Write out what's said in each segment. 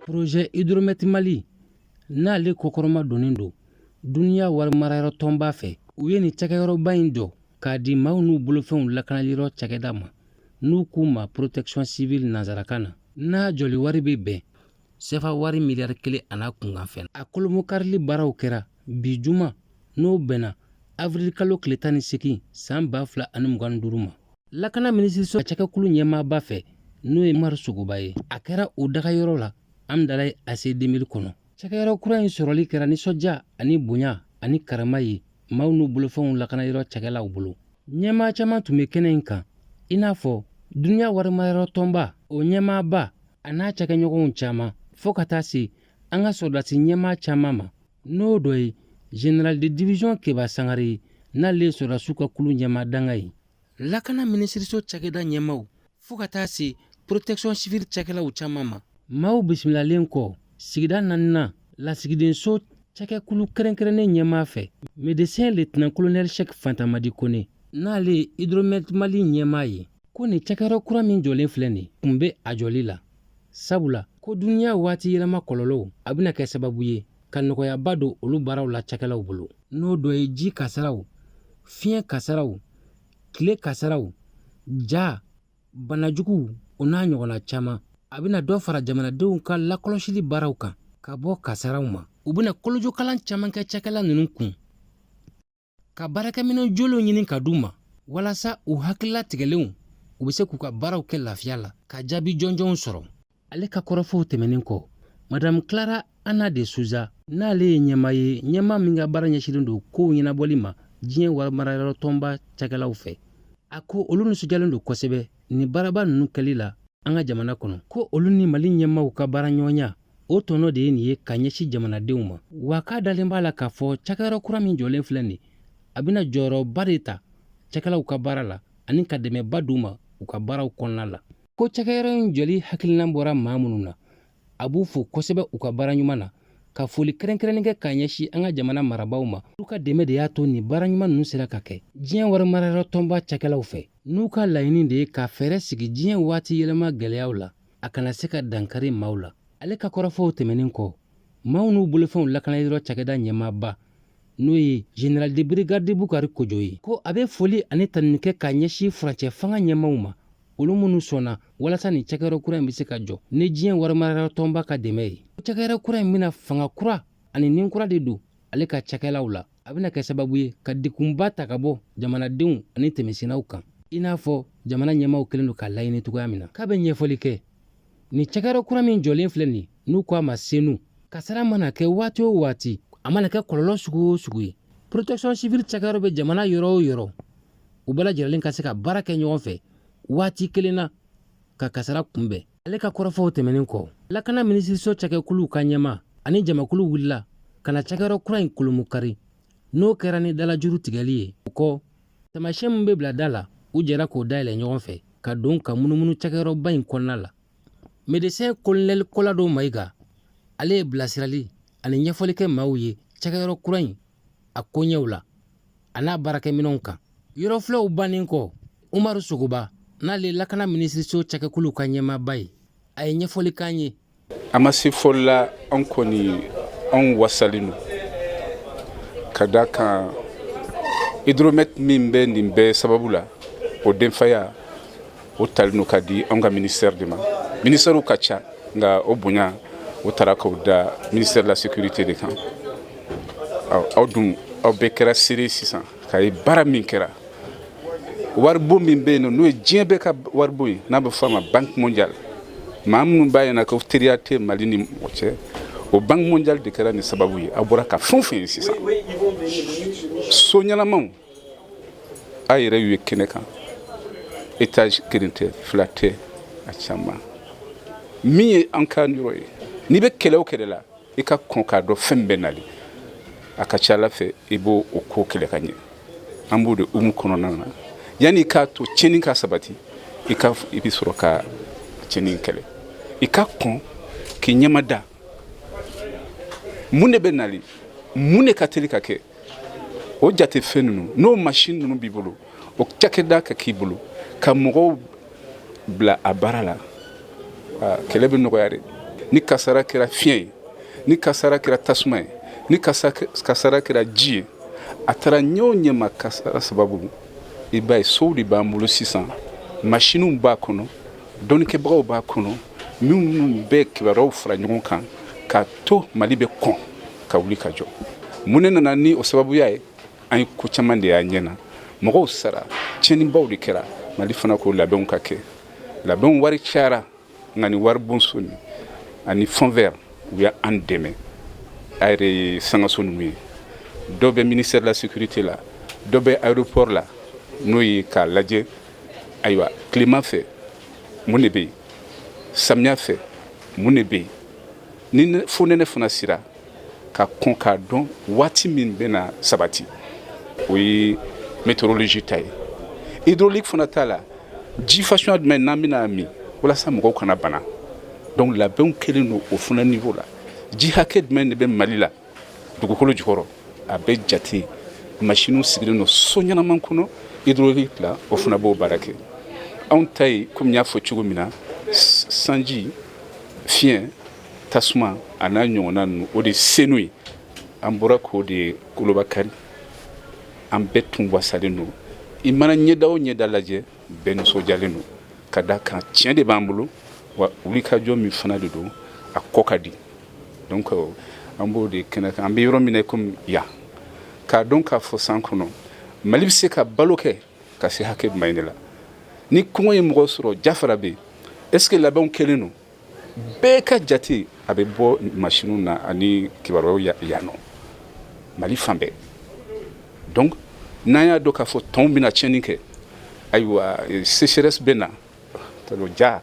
projet hydromet mali n'ale kɔkɔrɔmadonnen don dunya wari marayɔrɔ tɔnba fɛ u ye nin cɛkɛyɔrɔba in jɔ k'a di maaw n'u bolofɛnw lakanali yɔrɔ cakɛda ma n'u k'u ma protection civile nansarakan na n'a jɔli wari bɛ bɛn sefa wari miliyari kelen an'a kunkanfɛn a kolomokarili baaraw kɛra bi juma n'o bɛnna avril kalo tile tan ni segin san ba fila ani mugan ni duuru ma lakana minisiriso cɛkɛkulu ɲɛmaaba fɛ n'o ye umaru sogoba ye a kɛra o dagayɔrɔ la hamdalaye ACI 2000 kɔnɔ cɛkɛyɔrɔ kura in sɔrɔli kɛra nisɔndiya ani bonya ani karama ye maaw n'u bolofɛnw lakana yɔrɔ cakɛlaw bolo ɲɛmaa caman tun bɛ kɛnɛ in kan i n'a fɔ duniya warimarayɔrɔ tɔnba o ɲɛmaaba an'a cakɛɲɔgɔnw caman fɔɔ ka taa se an ka sɔrɔdasi ɲɛmaa caman ma n'o dɔ ye général de division keba sangare ye n'ale ye sɔrɔdasiw ka kulu ɲɛmaa dankan ye lakana minisiriso cakɛda ɲɛmaaw fɔɔ ka taa se protection civile cakɛlaw caman ma maaw bisimilalen kɔ sigida naninan lasigidenso cakɛkulu kɛrɛnkɛrɛnnen ɲɛmaa fɛ médecin lieutenant colonel cheick fantamadi kone n'ale ye hydromet mali ɲɛmaa ye ko nin cakɛyɔrɔ kura min jɔlen filɛ nin kun bɛ a jɔli la sabula ko dunya waati yɛlɛma kɔlɔlɔw a bɛna kɛ sababu ye ka nɔgɔyaba don olu baaraw la cakɛlaw bolo n'o dɔ ye ji kasaraw fiɲɛ kasaraw tile kasaraw ja banajuguw o n'a ɲɔgɔnna caman a bɛna dɔ fara jamanadenw ka lakɔlɔsili baaraw kan ka bɔ kasaraw ma u bɛna kolojokalan caman kɛ cakɛla ninnu kun ka baarakɛminɛn jolenw ɲini ka d'u ma walasa u hakili latigɛlenw u bɛ se k'u ka baaraw kɛ lafiya la ka jaabi jɔnjɔnw sɔrɔ ale ka kɔrɔfɔw tɛmɛnen kɔ madamu clara ana de sousa n'ale ye ɲɛmaa ye ɲɛmaa min ka baara ɲɛsinnen don kow ɲɛnabɔli ma diɲɛ warimarayɔrɔ tɔnba cakɛlaw fɛ a ko olu nisɔndiyalen don kosɛbɛ nin baaraba ninnu kɛli la an ka jamana kɔnɔ ko olu ni mali ɲɛmaaw ka baara ɲɔgɔnya o tɔnɔ de ye nin ye ka ɲɛsin jamanadenw ma wa k'a dalen b'a la k'a fɔ cakɛyɔrɔ kura min jɔlen filɛ nin a bɛna jɔyɔrɔba de ta cakɛlaw ka baara la ani ka dɛmɛba d'u ma u ka baaraw kɔnɔna la ko cakɛyɔrɔ in jɔli hakilinan bɔra maa minnu na a b'u fo kosɛbɛ u ka baara ɲuman na ka foli kɛrɛnkɛrɛnnen kɛ k'a ɲɛsin an ka jamana marabaaw ma olu ka dɛmɛ de y'a to nin baara ɲuman ninnu sera ka kɛ diɲɛ wari marayɔrɔ tɔnba cakɛlaw fɛ n'u ka laɲini de ye ka fɛɛrɛ sigi diɲɛ waati yɛlɛma gɛlɛyaw la a kana se ka dankari maaw la ale ka kɔrɔfɔw tɛmɛnen kɔ maaw n'u bolofɛnw lakana yɔrɔ cakɛda ɲɛmaaba n'o ye général de brigade bukari kojo ye ko a bɛ foli ani tanuni kɛ k'a ɲɛsin furancɛ fanga ɲɛmaaw ma olu minnu sɔnna walasa nin cakɛyɔrɔ kura in bɛ se ka jɔ ni diɲɛ warimarayɔrɔ tɔnba ka dɛmɛ ye cakɛyɔrɔ kura in bɛna fanga kura ani nin kura de don ale ka cakɛlaw la a bɛna kɛ sababu ye ka degunba ta ka bɔ jamanadenw ani tɛmɛsennaw kan i n'a fɔ jamana ɲɛmaaw kɛlen don k'a laɲini cogoya min na k'a bɛ ɲɛfɔli kɛ nin cakɛyɔrɔ kura min jɔlen filɛ nin n'u ko a ma senu kasara mana kɛ waati o waati a mana kɛ kɔlɔlɔ sugu o sugu ye protection civile cakɛyɔrɔ bɛ jamana yɔrɔ o yɔrɔ u bɛɛ lajɛlen ka se ka baara kɛ ɲɔgɔn fɛ waati kelen na ka kasara kunbɛn ale ka kɔrɔfɔw tɛmɛnen kɔ lakana minisiriso cakɛkuluw ka ɲɛmaa ani jamakulu wulila ka na cakɛyɔrɔ kura in kolomu kari n'o kɛra ni dalajuru tigɛli ye o kɔ taamasiyɛn min bɛ bila da la u jɛra k'o dayɛlɛ ɲɔgɔn fɛ ka don ka munumunu cakɛyɔrɔba in kɔnɔna la medesɛn kolonɛli kolado mayiga ale ye bilasirali ani ɲɛfɔli kɛ maaw ye cakɛyɔrɔ kura in a koɲɛw la a n'a baarakɛminɛnw kan yɔrɔfilɛw bannen kɔ umaru sogoba n'ale lakana minisiriso cakɛkuluw ka ɲɛmaaba ye a ye ɲɛfɔli k'an ye an ma se fɔli la an kɔni anw wasalen don ka da kan hydromet min bɛ nin bɛɛ sababu la o denfaya o talen don k'a di an ka minisɛri de ma minisɛriw ka ca nka o bonya o taara k'o da ministère de la sécurité de kan aw dun aw bɛɛ kɛra seere ye sisan k'a ye baara min kɛra waribon min bɛ yen nɔ n'o ye diɲɛ bɛɛ ka waribon ye n'a bɛ fɔ a ma banque mondiale maa minnu b'a ɲɛna ko teriya tɛ mali ni mɔgɔ cɛ o banque mondiale de kɛra nin sababu ye a bɔra ka fɛn o fɛn ye sisan so ɲɛnamaw a yɛrɛ y'u ye kɛnɛ kan étage kelen tɛ fila tɛ a caman min ye an ka yɔrɔ ye n'i bɛ kɛlɛ o kɛlɛ la i ka kɔn k'a dɔn fɛn bɛ nali a ka ca la fɛ i b'o o ko kɛlɛ ka ɲɛ an b'o de hukumu kɔnɔna na yanni i k'a to tiɲɛni ka sabati i ka i bɛ sɔrɔ ka tiɲɛni kɛlɛ i ka kɔn k'i ɲɛma da mun de bɛ nali mun de ka teli ka kɛ o jate fɛn ninnu n'o machine ninnu b'i bolo o cakɛda ka k'i bolo ka mɔgɔw bila a baara la kɛlɛ bɛ nɔgɔya de ni kasara kɛra fiɲɛ ye ni kasara kɛra tasuma ye ni kasara kɛra ji ye a taara ɲɛ o ɲɛ ma kasara sababu i b'a ye sow de b'an bolo sisan machines b'a kɔnɔ dɔnnikɛbagaw b'a kɔnɔ minnu bɛ kibaruyaw fara ɲɔgɔn kan k'a to mali bɛ kɔn ka wuli ka jɔ mun ne nana ni o sababuya ye an ye ko caman de y'a ɲɛ na mɔgɔw sara tiɲɛnibaw de kɛra mali fana ko labɛnw ka kɛ labɛnw wari cayara nka ni waribonso nin ani fonds vert u y'an dɛmɛ a yɛrɛ ye sankanso ninnu ye dɔ bɛ ministère de la sécurité la dɔ bɛ aéroport la n'o ye k'a lajɛ ayiwa tilema fɛ mun de bɛ yen samiya fɛ mun de bɛ yen ni fonɛnɛ fana sera ka kɔn k'a dɔn waati min bɛna sabati o ye météorologie ta ye hydraulique fana ta la ji fasuya jumɛn n'an bɛna min walasa mɔgɔw kana bana donc labɛnw kɛlen don o fana niveau la ji hakɛ jumɛn de bɛ mali la dugukolo jukɔrɔ a bɛ jate masiniw sigilen don so ɲɛnaman kɔnɔ hydraulique la o fana b'o baara kɛ anw ta ye komi n y'a fɔ cogo min na sanji fiɲɛ tasuma a n'a ɲɔgɔnna ninnu o de senu ye an bɔra k'o de kolobakari an bɛɛ tun wasalen don i mana ɲɛda o ɲɛda lajɛ bɛɛ nisɔndiyalen don ka d'a kan tiɲɛ de b'an bolo wa wulikajɔ min fana de don a kɔ ka di donc euh, an b'o de kɛnɛ kan an bɛ yɔrɔ min na komi yan k'a dɔn k'a fɔ san kɔnɔ mali bɛ se ka balo kɛ ka se hakɛ jumɛn de la ni kɔngɔ ye mɔgɔ sɔrɔ jafara bɛ yen est ce que labɛnw kɛlen don bɛɛ ka jate a bɛ bɔ machine na ani kibaruyaw ya- yan nɔ mali fan bɛɛ donc n'an y'a dɔn k'a fɔ tɔnw bɛna tiɲɛni kɛ ayiwa eh, sécheresse bɛ na ja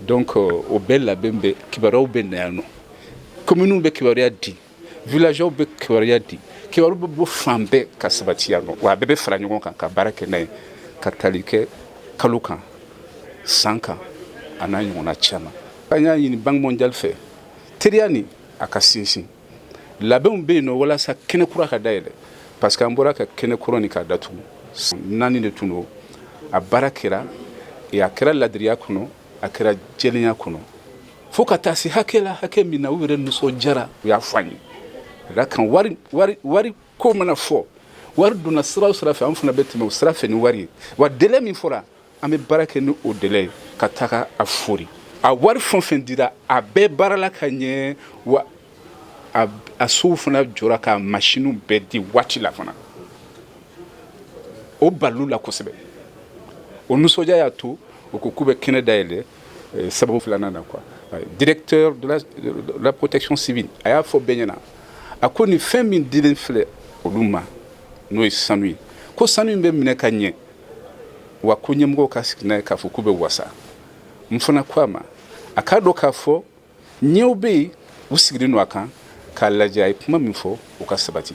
donc euh, o bɛɛ labɛn bɛ kibaruyaw bɛ na yan nɔ kominiw bɛ kibaruya di Villagew bɛ kibaruya di kibaru bɛ bɔ fan bɛɛ ka sabati yan nɔ wa a bɛɛ bɛ fara ɲɔgɔn kan ka baara kɛ n'a ye ka taali kɛ kalo kan san kan a n'a ɲɔgɔn caman an y'a ɲini Banque mondiale fɛ teriya nin a ka sinsin labɛnw bɛ yen nɔ walasa kɛnɛ kura ka dayɛlɛ parce que an bɔra ka kɛnɛ kura nin k'a datugu naani de tun don a baara kɛra a kɛra laadiriya kɔnɔ a kɛra jɛlenya kɔnɔ fo ka taa se hakɛ la hakɛ min na u yɛrɛ nisɔndiyara u y'a fɔ an ye a ka kan wari ko mana fɔ wari donna sira o sira fɛ an fana bɛ tɛmɛ o sira fɛ ni wari ye wa délai min fɔra an bɛ baara kɛ ni o délai ye ka taga a fori a wari fɛn o fɛn dira a bɛɛ baarala ka ɲɛ wa a sow fana jɔra ka masiniw bɛɛ di waati la fana o balil'u la kosɛbɛ o nisɔndiya y'a to u ko k'u bɛ kɛnɛ dayɛlɛ Eh, sababu filanan na quoi eh, directeur de la, de la protection civile a y'a fɔ bɛɛ ɲɛna a ko nin fɛn min dilen filɛ olu ma n'o ye sanu ye ko sanu in bɛ minɛ ka ɲɛ wa ko ɲɛmɔgɔw ka sigi n'a ye k'a fɔ k'u bɛ wasa n fana ko a ma a k'a dɔn k'a fɔ ɲɛw bɛ yen u sigilen don a kan k'a lajɛ a ye kuma min fɔ o ka sabati